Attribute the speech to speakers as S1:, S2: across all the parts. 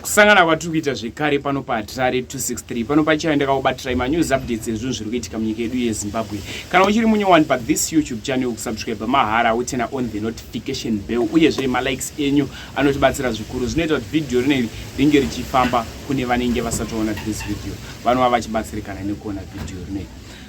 S1: kusangana kwatiri kuita zvekare pano pahatirare 263 pano pachaive ndakakubatirai manews updates ezvinhu zviri kuitika munyika yedu yezimbabwe kana uchiri munyowani pathis youtube channel kusubscribe mahara utena on the notification bell uyezve malikes enyu anotibatsira zvikuru zvinoita kuti vhidhiyo rineri ringe richifamba kune vanenge vasatoona this video vanova vachibatsirikana nekuona vhidhiyo rineri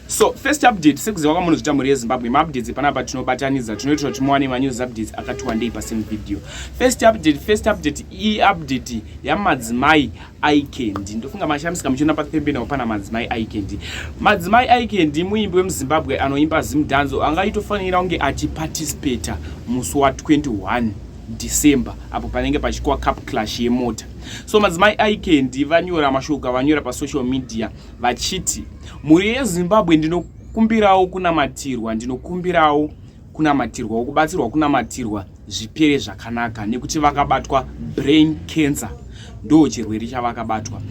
S1: So first update sekuziva kwamunhu zvita mhuri yeZimbabwe maupdates panapa tinobatanidza tinoita kuti muwane manews updates akati wandei pasame video. First update first update iyi update yamadzimai Ikendi. Ndofunga mashamisika muchiona papembe nawo pana madzimai Ikendi. Madzimai Ikendi muimbi wemuZimbabwe anoimba zimdanzo anga itofanira kunge achiparticipate musi wa 21 December apo panenge pachikwa cup clash yemota. So madzimai Ikendi vanyora mashoko avanyora pasocial media vachiti mhuri yezimbabwe ndinokumbirawo kunamatirwa ndinokumbirawo kunamatirwa wokubatsirwa kunamatirwa zvipere zvakanaka nekuti vakabatwa brain cancer ndo chirwere chavakabatwa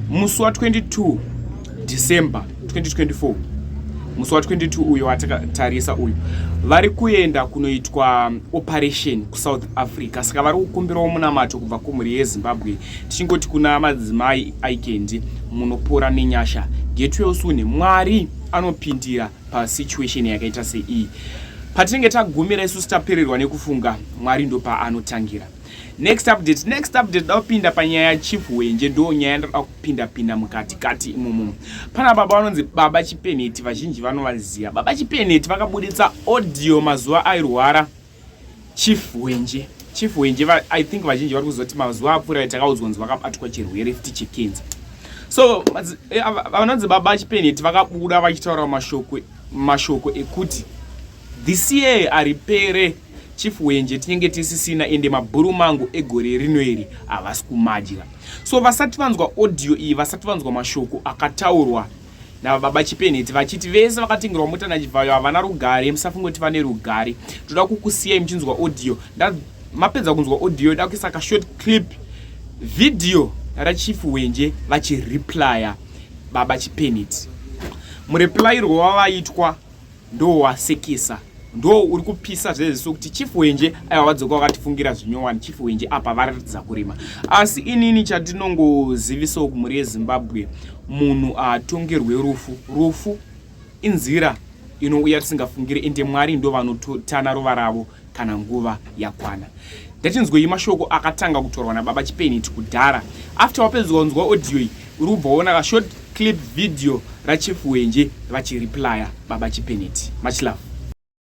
S1: musi wa 22 december 2024 musi wa 22 uyo watakatarisa uyu vari kuenda kunoitwa operation kusouth africa saka vari kukumbirawo munamato kubva kumhuri yezimbabwe tichingoti kuna madzimai aikendi munopora nenyasha get well soon mwari anopindira pasituation yakaita seiyi patinenge tagumira isusu tapererwa nekufunga mwari ndopaanotangira next update next update da kupinda panyaya chief wenje ndo nyaya yandoda kupinda pinda mukati kati imomo pana baba vanonzi baba chipeneti vazhinji vanovaziva baba chipeneti vakabuditsa audio mazuva airwara chief wenje chief wenje i think vazhinji vari kuzoti mazuva apfurai takaudzwa nzi vakabatwa chirwere fti chekenza so eh, vanonzi baba chipeneti vakabuda vachitaura mashoko mashoko ekuti this year aripere chief wenje tinenge tisisina ende mabhuru mangu egore rino iri havasi kumadya so vasati vanzwa audio iyi vasati vanzwa mashoko akataurwa nababa chipenheti vachiti vese vakatengerwa mota nachivhayo havana rugare musafunge kuti vane rugare toda kukusiyai muchinzwa audio mapedza kunzwa audio da kuisa kashort clip video rachief wenje vachireplya baba chipenheti mureplyirwo wavaitwa ndowasekisa ndo uri kupisa zvese sokuti chief wenje aiwa vadzoka vakatifungira zvinyowani chief wenje apa varatidza kurima asi inini chatinongozivisawo kumhuri yezimbabwe munhu atongerwe rufu rufu inzira inouya tisingafungire ende mwari ndo vanotana ruva ravo kana nguva yakwana ndatinzwei mashoko akatanga kutorwa nababa chipeniti kudhara after wapedzwa kunzwa audio iyi uri kubva waona kashort clip video rachief wenje vachireplya baba chipeniti much love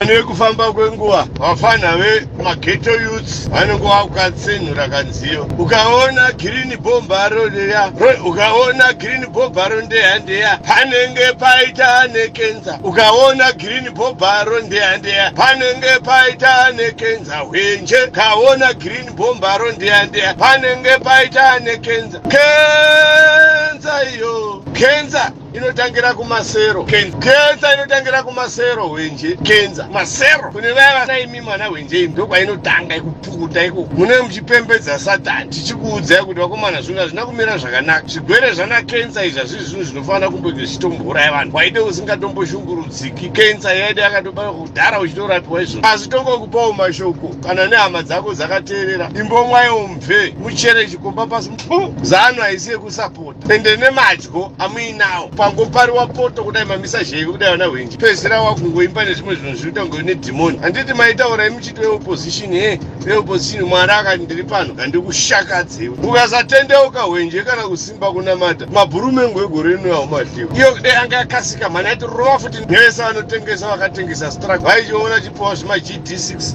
S1: nekufamba
S2: kwenguva vafana vemageto youths vanenge vakukatsenhura kanziyo ukaona girini bhombaro leya ukaona girini bhombaro ndeya ndeya panenge paita nekenza ukaona girini bho bharo ndeya ndeya panenge paita nekenza hwenje kaona green bho bharo ndeya ndeya panenge paita nekenza kenza iyo kenza inotangira kumasero kenza inotangira kumasero hwenje kenza masero kune vaya vanaimi mwana hwenje imi ndokwainotanga ikupukuta iko mune muchipembedza satani tichikuudzai kuti vakomana zvino hazvina kumira zvakanaka zvigwere zvana kenza izvi hazvizvi zvinhu zvinofanira kumboge zvichitombouraya vanhu waide usingatomboshungurudza siki kensa yaida yakatobara kudhara uchitorapiwa izvo asi tongokupawo mashoko kana nehama dzako dzakateerera imbomwayo mve muchere chikomba pasi mpu zano haisi yekusapota ende nemadyo amuinawo pangopariwa poto kudai mamisa zheve kudai vana hwenji pezera wakungoimba nezvimwe zvinhu zviri kutanga une dhimoni handiti maitaurai muchiti veopposition he veopposition mwari akati ndiri pano handikushakadzewo ukasatendeuka hwenje kana kusi kuimba kunamata mabhuru mengu egore rino aumahliwa iyo kudai anga yakasika mhani aiti rova futi nevese vanotengesa vakatengesa strak vaichiona chipowa zvima gd6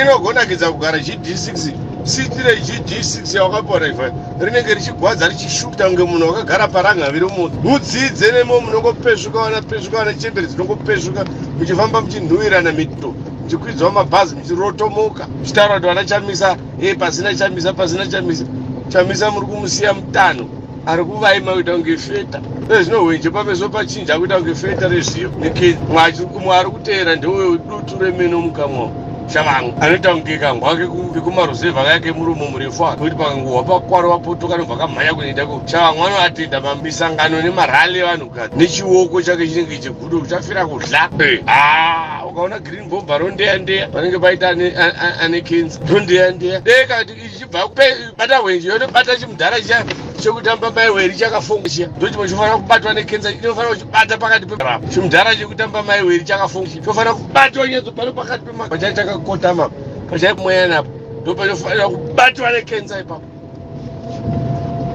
S2: inogonakidza kugara gd6 sitire gd6 yawakapiwa raiva rinenge richigwadza richishuta kunge munhu wakagara parangaviro moto mudzidze nemo munongopesvuka vana pesvuka vana chembere dzinongopesvuka muchifamba muchinhuwirana mito muchikwidzwa mabhazi muchirotomoka muchitaura kuti vana chamisa e pasina chamisa pasina chamisa chamisa muri kumusiya mutano ari kuvaima kuita kunge feta ezvino hwenje pameso pachinja akuita kunge feta rezviyo neke mwachi umwe ari kuteera ndewe dutu remeno mukamwa shavangu anoita kunge kangwake vekumaruzevha kayake murumo murefu ake kuti pakanguhwa pakwaro vapotoka nobva kamhanya kunoita ko shavangu anoatenda misangano nemarali evanhukadzi nechioko chake chinenge Kudo kuchafira kudla. Ah, ukaona green bomba rondeya ndeya panenge paita ane ane kenzi. Rondeya ndeya. Deka ichibva kupe bata hwenje yono bata chimudhara chiya chekutamba mai weri chakafonga chiya. Ndochimwe chofanira kubatwa ne kenzi inofanira kuchibata pakati pe rap. Chimudhara chekutamba mai weri chakafonga chiya. Chofanira kubatwa nyedzo pano pakati pe makacha chakakotama. Pachaipomweya napo. Ndopa chofanira kubatwa ne kenzi ipapo.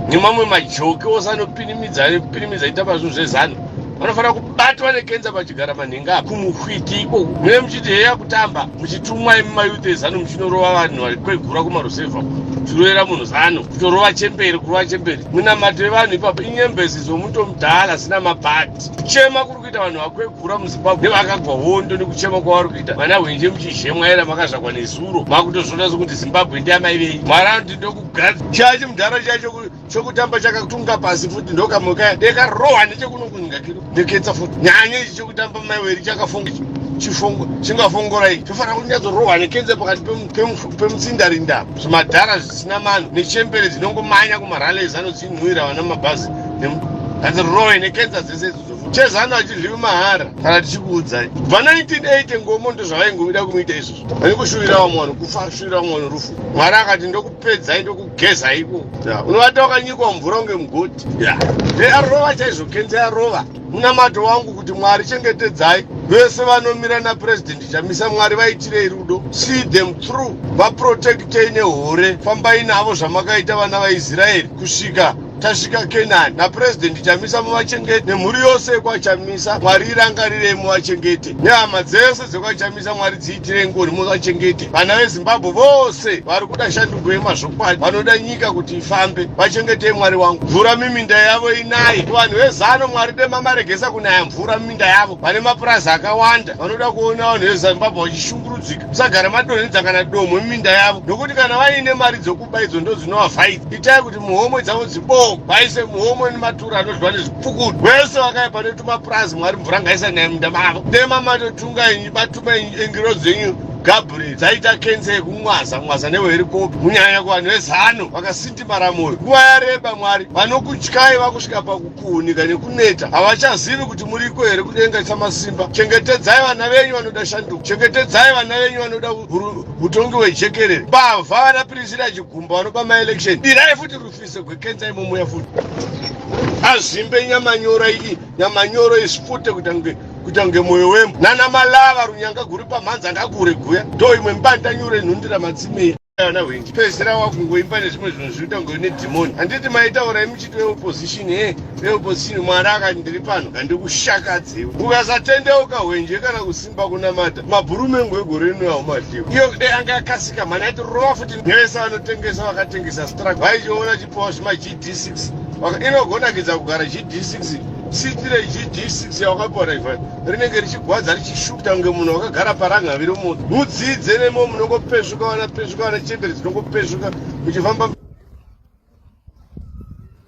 S2: nemamwe majoki ose anopinimidza anopinimidza ita pazvinhu zvezanu vanofanira kubatwa nekenza pachigara manhenga apa kumuhwiti iko mune muchiti heya kutamba muchitumwa imi mayuth ezanu muchinorova vanhu vari kwegura kumarusevha zviroera munhu zanu kutorova chemberi kurova chemberi munamato yevanhu ipapo inyembezi zvomuto mudhala asina mabhati kuchema kuri kuita vanhu vakwegura muzimbabwe vakagwa hondo nekuchema kwavari kuita vana hwenje muchizhemwa era makazvakwa nezuro makutozvona sokuti zimbabwe ndiamai vei mwari anoti ndokugadza chaya chimudhara chaya chokutamba chakatunga pasi futi ndokamoka dekarohwa nechekunokunyika kiro ndeketsa futi nyanya ichi chokutamba mai weri chakafunga ichi chifungo chingafongorai tofanira kuti nyatsorohwa nekenze pakati pemutsindarinda zvimadhara zvisina mano nechembere dzinongomanya kumarales anodzinwira vana mabhazi hanzi roe nekenza dzese chezanu hatidliwi mahara kana tichikuudzai bva 1980 ngomo ndozvavaingovida kumuita izvozvo vane kushuvira vamwe vanhu kufa kushuvira vamwe vanhu rufu mwari akati ndokupedzai ndokugeza iko unovata wakanyikwa mvura unge mugoti ya nearova chaizvo kenzi arova munamato wangu kuti mwari chengetedzai vese vanomira napurezidendi chamisa mwari vaitirei rudo see them through vaprotektei nehore fambai navo zvamakaita vana vaisraeri kusvika tasvika kenani napurezidendi chamisa muvachengete nemhuri yose yekwachamisa mwari irangarirei muvachengete nehama dzese dzekwachamisa mwari dziitire ngoni muvachengete vana vezimbabwe vose vari kuda shanduko yemazvokwadi vanoda nyika kuti ifambe vachengetei mwari wangu mvura miminda yavo inaye vanhu vezano mwari demamaregesa kunaya mvura miminda yavo vane mapurazi akawanda vanoda kuona vanhu vezimbabwe vachishungurudzika musagara madonhedza kana domwe miminda yavo nokuti kana vaine mari dzokuba idzo ndodzinovavhaidza itai kuti muhomwe dzavo dziboo vaise muhomwe nematura anodyiwa nezvipukutu vese vakaya pane tumapurazi mwari mvura ngaisanaya munda mavo dema matotunga inyu batuma ingiro dzenyu gabriel dzaita kensa yekumwaza mwaza neweherikopi munyanya kuvanhu vezano vakasindimara mwoyo nguva yareba mwari vanokutyai vakusvika pakukuunika nekuneta havachazivi kuti muriko here kudenga isamasimba chengetedzai vana venyu vanoda shanduko chengetedzai vana venyu vanoda mutongi wejekerere bavha vana pirisira chigumba vanoba maelection dirai futi rufiso gwekenza imomuya futi azvimbe nyamanyoro iyi nyamanyoro isipute kuita kunge kuita kunge mwoyo wembo nana malava runyanga guri pamhanza ngakure guya ndo imwe mbanda nyure nhundira matsimei ana hwenji pedzera wakungoimba nezvimwe zvinhu zviri kuita ngoine dhimoni handiti maitaurai muchiti veopposition e veopposition mwari akati ndiri pano handikushakadzewo ukasatendeuka hwenje kana kusi pakunamata mabhuru mengu egore rino yaumadhiwa iyo kudai anga yakasika mhani aiti rova futi nevese vanotengesa vakatengesa strak vaichiona chipowa zvima gd6 inogonakidza kugara gd6 sitire gd6 yawakapiwa naiva rinenge richigwadza richishukta kunge munhu wakagara paranga viri munhu mudzidze nemo munongopesvuka vana pesvuka vana chembere dzinongopesvuka muchifamba